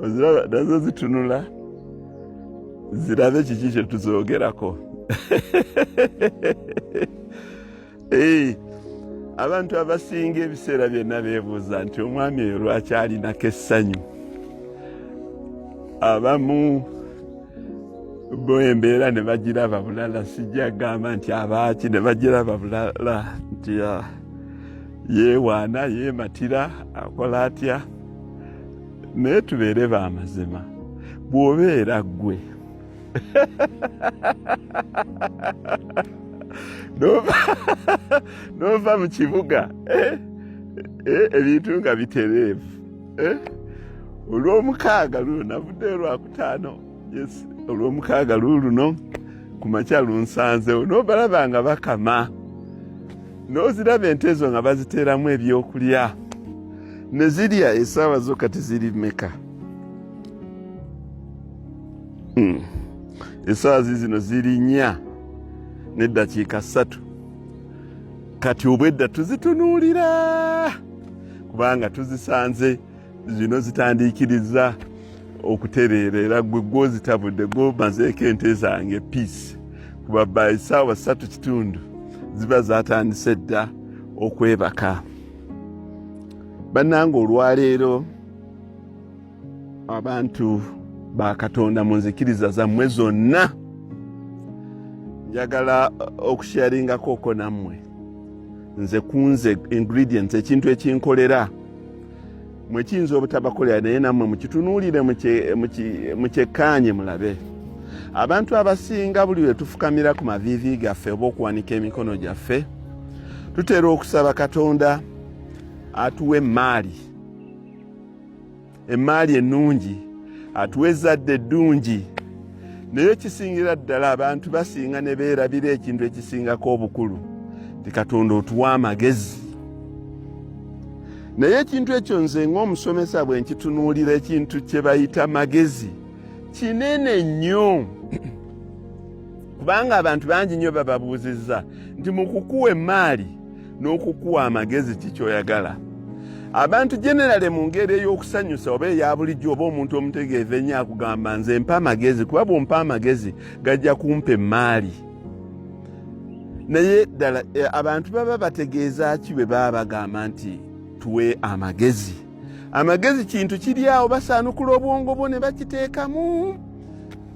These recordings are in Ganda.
oziraba nazo zitunula zirabe kiki kye tuzoogerako abantu abasinga ebiseera byonna beebuuza nti omwami oyo lwaki alinako essanyu abamu bo embeera ne bagiraba bulala sijja gamba nti abaaki ne bagiraba bulala nti ah, yeewaana yeematira akola atya naye tubeere ba mazima bw'obeera ggwe n'ova mu kibuga eh, eh, ebintu nga bitereevu eh, olw'omukaaga luno navudde olwakutaano olw'omukaaga luuluno ku makya lunsanzewo n'obalaba nga bakama n'oziraba ente ezo nga baziteeramu ebyokulya ne zirya esaawa zo kati ziri meka hmm. esaawa zizino ziri nnya n'eddakiika ssatu kati obwedda tuzitunuulira kubanga tuzisanze zino zitandiikiriza okutereera era gwe gwozitabudde gwomazeeko ente zange piisi kuba by saawa satu kitundu ziba zatandise dda okwebaka bannanga olwaleero abantu ba katonda mu nzikiriza zammwe zonna njagala okusharingakooko nammwe nze kunze ingredients ekintu ekinkolera mwe kiyinza obutabakolera naye nammwe mukitunuulire mukyekkaanye mulabe abantu abasinga buli lwe tufukamira ku maviivi gaffe oba okuwanika emikono gyaffe tutera okusaba katonda atuwa emmaali emmaali ennungi atuwa ezzadde eddungi naye ekisingira ddala abantu basinga ne beerabira ekintu ekisingako obukulu nti katonda otuwa amagezi naye ekintu ekyo nze ng'omusomesa bwe nkitunuulira ekintu kye bayita magezi kinene nnyo kubanga abantu bangi nnyo bababuuzizza nti mu kukuwa emmaali n'okukuwa amagezi kikyoyagala abantu generale mu ngeri ey'okusanyusa oba eya bulijjo oba omuntu omutegeevu ennyo akugamba nze mpa amagezi kuba bwompa amagezi gajja kumpa emmaali naye ddala eh, abantu baba bategeeza ki bwe baba bagamba nti tuwe amagezi amagezi kintu kiri awo basaanukula obwongo bwo ne bakiteekamu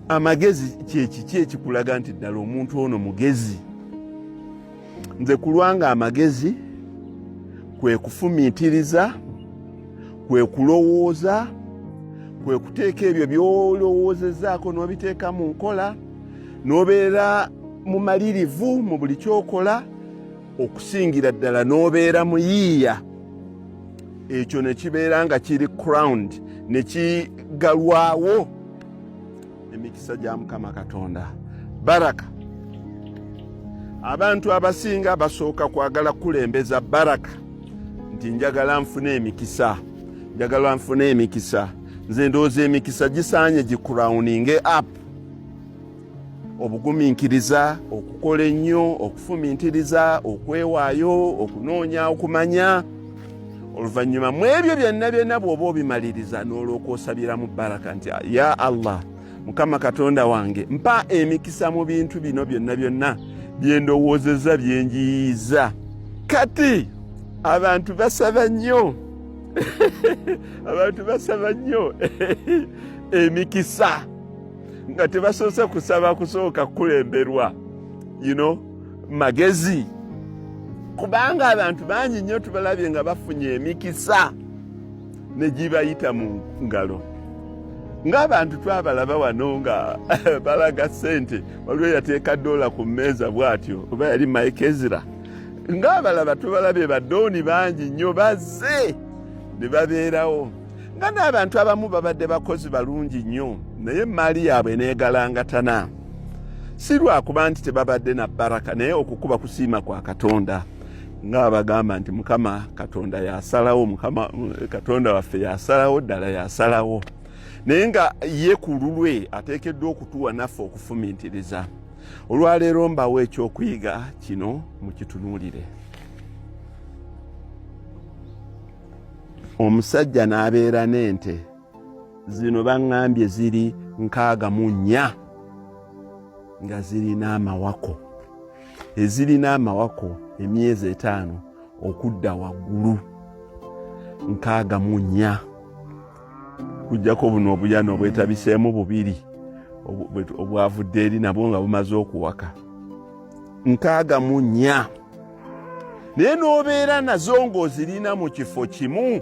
amagezi kyekiki ekikulaga nti ddala omuntu ono mugezi nze kulwanga amagezi kwe kufumiitiriza kwe kulowooza kwe kuteeka ebyo byolowoozezaako n'obiteeka mu nkola n'obeera mumalirivu mu buli kyokola okusingira ddala n'obeera muyiiya ekyo ne kibeera nga kiri cround ne kigalwawo emikisa gya mukama katonda baraka abantu abasinga basooka kwagala kukulembeza baraka nti njagala nfuna emikisa njagala nfuna emikisa nze ndowooza emikisa gisaanye gikurawuninge app obugumiikiriza okukola ennyo okufumintiriza okwewaayo okunoonya okumanya oluvannyuma mu ebyo byonna byonna bw'oba obimaliriza n'olwoka osabira mu baraka nti ya allah mukama katonda wange mpa emikisa mu bintu bino byonna byonna byendowoozeza byenjiyiza kati abantu basaba nnyo abantu basaba nnyo emikisa nga tebasoose kusaba kusooka kukulemberwa you know magezi kubanga abantu bangi nnyo tubalabye nga bafunye emikisa ne gibayita mu ngalo ng'abantu twabalaba wano nga balaga ssente waliwo yateeka doola ku mmeeza bw'atyo oba yali mike ezira ng'abalaba tubalabye badooni bangi nnyo bazze ne babeerawo nga n'abantu abamu babadde bakozi balungi nnyo naye emmaali yaabwe neegalangatana si lwakuba nti tebabadde na baraka naye okukuba kusiima kwa katonda nga bagamba nti mukama katonda yasalawo mukama katonda waffe yasalawo ddala yasalawo naye nga ye ku lulwe ateekeddwa okutuwa naffe okufumiitiriza olwaleero mbawo ekyokuyiga kino mukitunuulire omusajja n'abeera n'ente zino baŋŋambye ziri nkaaga mu nnya nga zirina amawako ezirina amawako emyezi etaano okudda waggulu nkaaga mu nnya kujjako buno obuyana obwetabiseemu bubiri obwavudde eri nabwo nga bumaze okuwaka nkaaga mu nnya naye n'obeera nazo ng'ozirina mu kifo kimu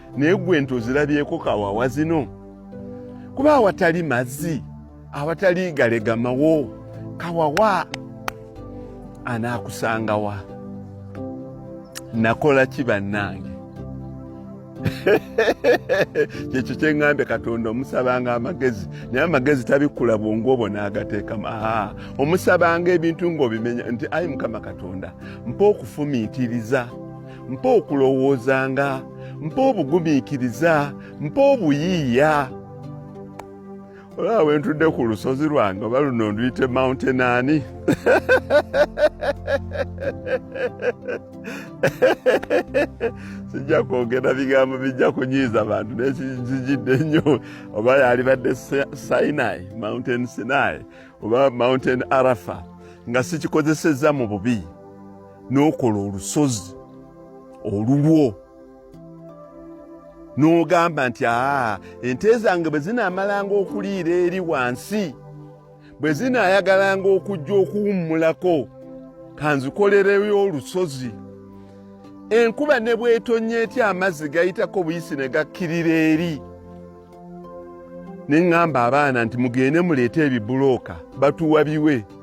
naye gwe ente ozirabyeko kawawa zino kuba awatali mazzi awatali galegamawo kawawa anaakusangawa nakola ki bannange kyekyo kyeŋŋambye katonda omusabanga amagezi naye amagezi tabikkula bwongu obwo n'agateekamu aa omusabanga ebintu ng'obimenya nti ayi mukama katonda mpa okufumiitiriza mpa okulowoozanga mpa obugumiikiriza mpa obuyiiya olaba wentudde ku lusozi lwange oba luno nduyite mountain ani sijja kwogera bigambo bijja kunyiiza bantu nekizijidde nnyo oba yalibadde sinai mountain sinai oba mountain arafa nga sikikozesezza mu bubi n'okola olusozi olulwo n'ogamba nti aa ente zange bwe zinaamalanga okuliira eri wansi bwe zinaayagalanga okujja okuwummulako kanzikolereyo olusozi enkuba ne bwetonnya etya amazzi gayitako buyisi ne gakkirira eri ne ŋŋamba abaana nti mugende muleete ebibulooka batuwa biwe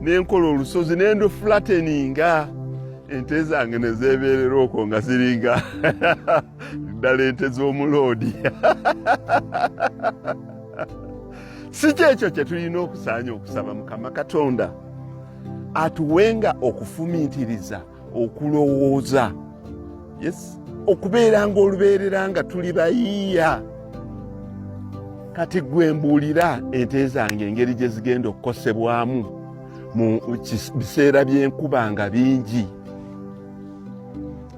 nenkola olusozi nendo flateninga ente zange nezebeerera okwo nga ziringa ddala ente z'omuloodi si kyekyo kye tulina okusaanya okusaba mukama katonda atuwenga okufumiitiriza okulowooza yes okubeera nga olubeerera nga tuli bayiiya kati gwe mbuulira ente zange engeri gye zigenda okukosebwamu mu biseera by'enkuba nga bingi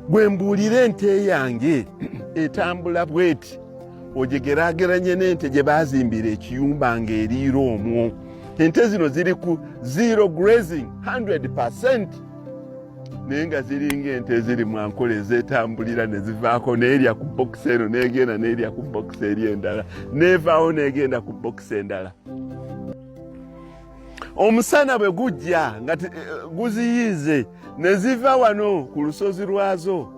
gwe mbuulira ente yange etambula bweti ogigeraageranye n'ente gye baazimbira ekiyumba ng'eriira omwo ente zino ziri ku zero grazing 100 percent naye nga ziringa ente eziri mwankola ezetambulira nezivaako neerya ku bokisi eno negenda neerya ku bokisi eri endala neevaawo negenda ku bokisi endala omusana bwe gujja nga eh, guziyiize neziva wano ku lusozi lwazo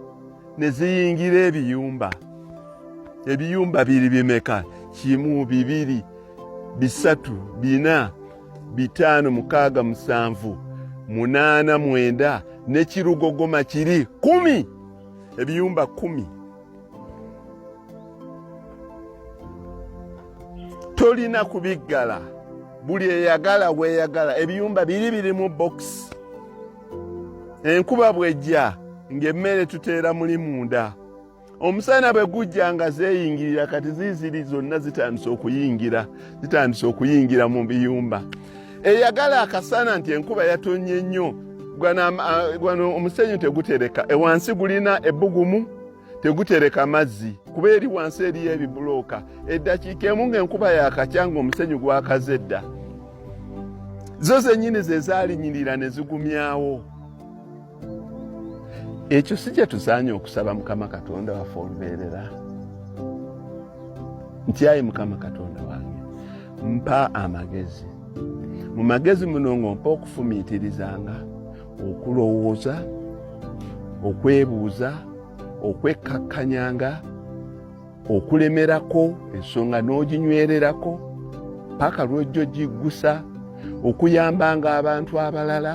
neziyingira ebiyumba ebiyumba biri bimeka kimu bibiri bisatu bina bitaano mukaaga musanvu munaana mwenda nekirugogoma kiri kumi ebiyumba kumi tolina kubiggala buli eyagala weyagala ebiyumba biri birimu bokisi enkuba bwejja ng'emmere tuteera muli munda omusana bwe gujja nga zeeyingirira kati ziiziri zonna zitandise okuyingira zitandise okuyingira mu biyumba eyagala akasana nti enkuba yatonye nnyo gwano omusenyu tegutereka ewansi gulina ebbugumu tegutereka mazzi kuba eri wansi eriyo ebibulooka eddakiika emu ng'enkuba yakakya ng'omusenyu gwakaze dda zo zennyini ze zaalinyirira ne zigumyawo ekyo si kye tusaanye okusaba mukama katonda waffe olubeerera nti ayi mukama katonda wange mpa amagezi mu magezi muno ng'ompa okufumiitirizanga okulowooza okwebuuza okwekkakkanyanga okulemerako ensonga n'oginywererako paka lwojjo giggusa okuyambanga abantu abalala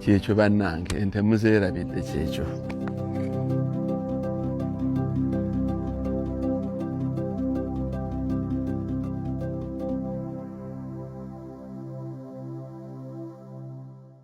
kyekyo bannange ente muzeerabidde kyekyo